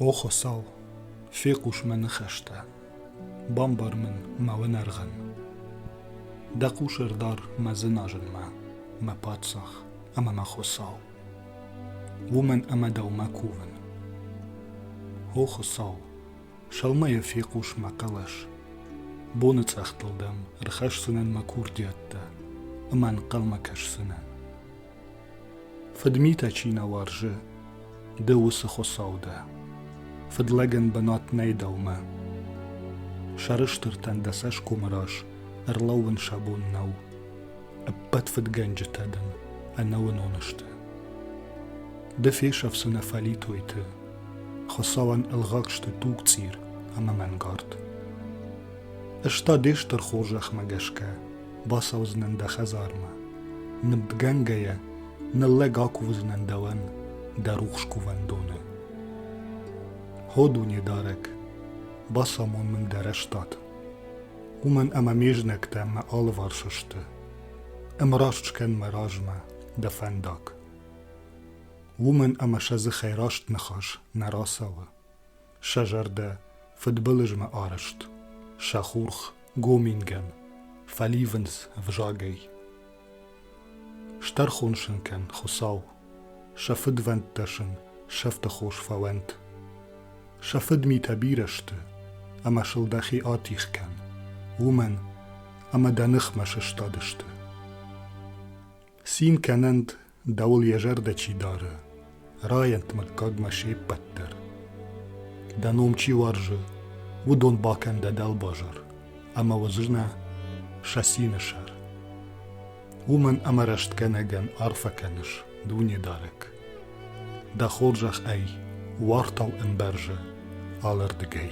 О Хуыцау, фехъус мӕ ныхӕстӕ, бамбар мын мӕ уынӕргъӕн. Дӕ хъусӕрдар мӕ дзыназынмӕ, мӕ паддзах ӕмӕ мӕ Хуыцау. Уымӕн ӕмӕ дӕумӕ кувын. О Хуыцау, Сӕумӕ йӕ фехъус мӕ хъӕлӕс. Боныцъӕхтыл дӕм ӕрхӕсдзынӕн мӕ курдиӕттӕ ӕмӕ ӕнхъӕлмӕ кӕсдзынӕн. Фыдмитӕ чи нӕ уарзы, ды уыцы Хуыцау дӕ. Фыдлӕгӕн бынат нӕй дӕумӕ. Сӕрыстыртӕн дӕ цӕсгомы раз ӕрлӕууын сӕ бон нӕу. Ӕппӕт фыдгӕнджытӕ дын ӕнӕуынон сты. Ды фесӕфдзынӕ фӕлитойты Хуыцауӕн ӕлгъаг сты тугцъир ӕмӕ мӕнгард. Ӕз та де стыр хорзӕхмӕ гӕсгӕ бацӕудзынӕн дӕ хӕдзармӕ. Нывдгӕнгӕйӕ ныллӕг акувдзынӕн дӕуӕн дӕ рухс кувӕндоны. Хо дунедарӕг, бацамон мын дӕ рӕстад. Уымӕн ӕмӕ ме знӕгтӕ мӕ алыварс сты. Ӕмраст скӕн мӕ размӕ дӕ фӕндаг. уымӕн ӕмӕ сӕ дзыхӕй раст ныхас нӕ рацӕуы. Сӕ зӕрдӕ фыдбылызмӕ арӕзт, сӕ хурх гомингӕн фӕливынц взагӕй. Стӕрхон сын кӕн, Хуыцау, сӕ фыдвӕндтӕ сын сӕфты хос фӕуӕнт. Сӕ фыдмитӕ бирӕ сты, ӕмӕ сыл дӕхи атих кӕн, уымӕн ӕмӕ дӕ ныхмӕ сыстадысты. Цин кӕнӕнт Дӕуыл йӕ зӕрдӕ чи дары, Райӕнт мыггагмӕ се ппӕт дӕр. Дӕ ном чи уарзы, уыдон бакӕн дӕ дӕлбазар, ӕмӕ уыдзынӕ сӕ цины сӕр. Уымӕн ӕмӕ рӕстгӕнӕгӕн арфӕ кӕныс, Дунедарӕг. Дӕ хорзӕх ӕй, уартау ӕмбӕрзы алырдыгӕй.